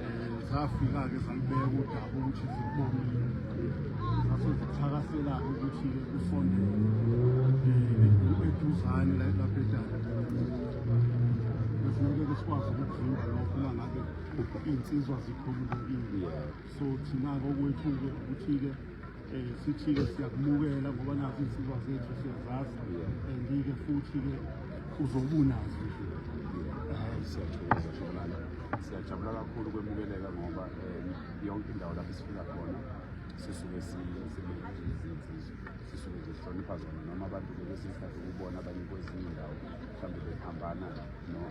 um zafika-ke zalibeka udaba ukuthi zikubonile zase zithakasela-ke ukuthi-ke kusondele um eduzane lapho edala besineke-ke sikwazi ukuvimba lokho uma ngabe iy'nsizwa zikhululekile so thina-ke okwethu-ke ukuthi-ke um sithi-ke siyakumukela ngoba nazi izinsizwa zethu siyazazi and-ke futhi-ke uzobunazo nje siyathokoza shobulala siyajabula kakhulu kwemukeleka ngoba um yonke indawo lapho sifika khona sisuke sinezinsizwa sisuke nje sihlonipha zona noma abantu bekwesinye isikhathi ukubona abanye kwezinye indawo mhlawumbe bephambana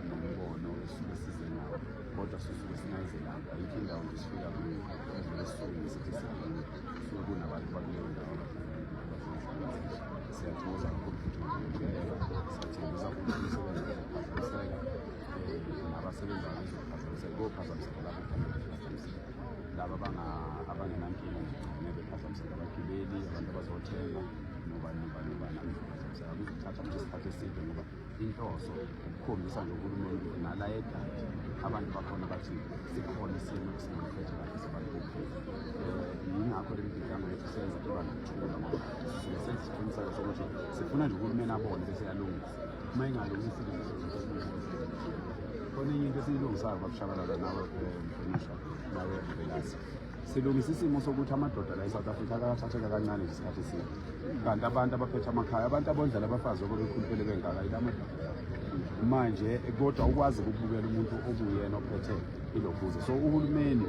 nombono esuke size nawo kodwa sisuke singayizelanga ayikho indawo nje sifika kuyo ezwe esihleli ngesikhathi esiningi kusuke kunabantu bakuleyo ndawo siyathokoza kakhulu futhi ngokulekelela siyathembisa ukuthi umsebenzi uzophazamiseka nabasebenzi abezophazamiseka kophazamiseka lapho phazamiseka laba abangenankinga nje gcine bephazamiseka abagibeli abantu abazothenga nobani nobani nobani abezophazamiseka kuzothatha nje isikhathi eside ngoba inhloso ukukhombisa nje uhulumeni nala edadi abantu bakhona bathi sikhona isimo esingamkhethe kahle sibantu yingakho le mibhidlanga yethu senza kuba nokuthula ngoba sisuke senza isiqiniseko sokuthi sifuna nje uhulumeni abone bese yalungisa uma ingalungisi khona enye into esiyilungisayo babushabalala nawe mhlonishwa nawe mvelisi silungisa isimo sokuthi amadoda la e-south africa akakathatheka kancane nje isikhathi eside kanti abantu abaphethe amakhaya abantu abondlela abafazi oba bekhuluphele bengaka yila amadoda manje kodwa ukwazi ukubukela umuntu okuyena ophethe ilobuze so uhulumeni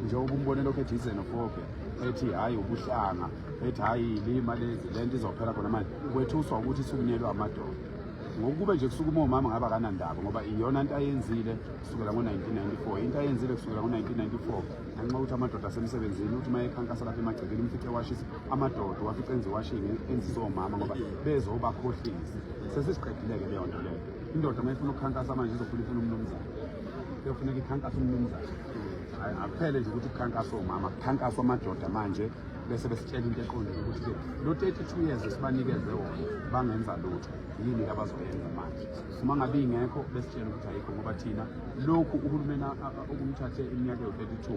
njengoba umbone lokhu ethi izenofobe ethi hhayi ubuhlanga ethi hhayi lima lezi le nto izophela khona manje kwethuswa ukuthi isukunyelwe amadoda ngokube nje kusuke uma umama ngabe akanandaba ngoba iyona nto ayenzile kusukela ngo-1994 into ayenzile kusukela ngo-1994 ngenxa yokuthi amadoda asemsebenzini ukuthi uma ekhankasa lapha emagcekeni umfice washisa amadoda wafice enze iwashini enzise omama ngoba bezobakhohlisa sesiziqedile-ke leyo nto leyo indoda uma ifuna ukukhankasa manje izofuna ifuna umnumzane kuyofuneka ikhankasa umnumzane akuphele nje ukuthi kukhankasa omama kukhankaswa amadoda manje bese besitshela into eqondile ukuthi lo 32 years esibanikeze wona bangenza lutho yini abazoyenza manje uma ngabe ingekho besitshela ukuthi ayikho ngoba thina lokhu uhulumeni Okumthathe iminyaka yo-32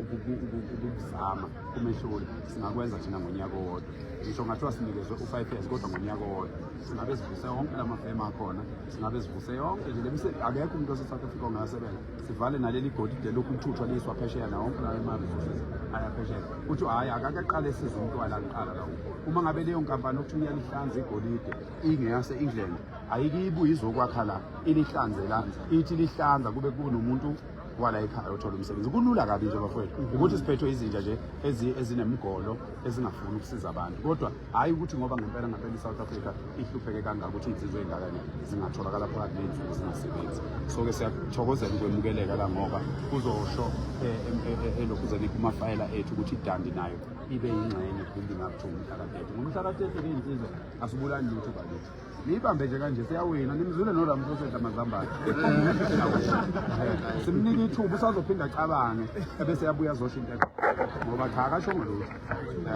ukuzama umehluli singakwenza thina ngonyaka owodwa ngisho ngathiwa sinikezwe u-five years kodwa ngonyaka owodwa singabe sivuse yonke la mafemu akhona singabe sivuse yonke nje lemise akekho umuntu wase-south africa ongayasebenza sivale naleli golide lokhu uthuthwa liyiswa phesheya nawo wonke lawo ema-resources ayaphesheya kuthi hhayi akakaqale size umntwana kuqala lawo uma ngabe leyo nkampani okuthiwa iyalihlanza igolide ingeyase-england ayike ibuye izokwakha la inihlanze la ithi lihlanza kube kunomuntu wala ekhaya othola umsebenzi kulula kabi nje bafowethu ukuthi siphethwe izinja nje ezinemgolo ezingafuni ukusiza abantu kodwa hhayi ukuthi ngoba ngempela ngempela i-south africa ihlupheke kangaka ukuthi insizwe ey'ngakane zingatholakala phakathi ney'nsuku zingasebenzi so-ke siyathokozela ukwemukeleka la ngoba kuzosho eh, eh, eh, elokhuzeni kumafayela ethu ukuthi idandi nayo ibe yingxenye building up to umhlakatete ngomhlakatete ke insizwe asibulani lutho bakithi niyibambe nje kanje siyawina nimzule noramsosedla mazambane simnike ithuba usazophinda acabange ebese yabuya zosho into ngoba cha akashongo lutho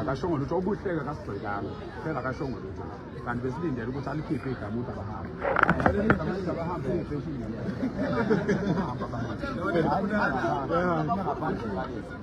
akashongo lutho obuhleke akasigxekanga phela akashongo lutho kanti besilindele ukuthi alikhiphe igama ukuthi abahambe abahambe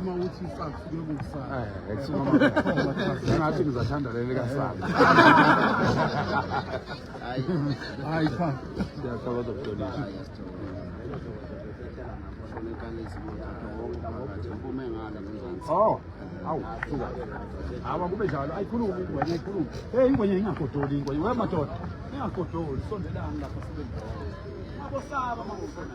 Uma uthi isakho kuye kukusana. Eh, ethi mama. Ngathi ngizathanda leli kasana. Hayi. Hayi cha. Siyaqala ukudonisa. Oh. Awu, suka. Hawa kube njalo. Ayikhulumi ingwenya, ayikhulumi. Hey, ingwenya ingagodoli ingwenya. Wewe madoda. Ingagodoli, sondelani lapha sibe. Abosaba mangofuna.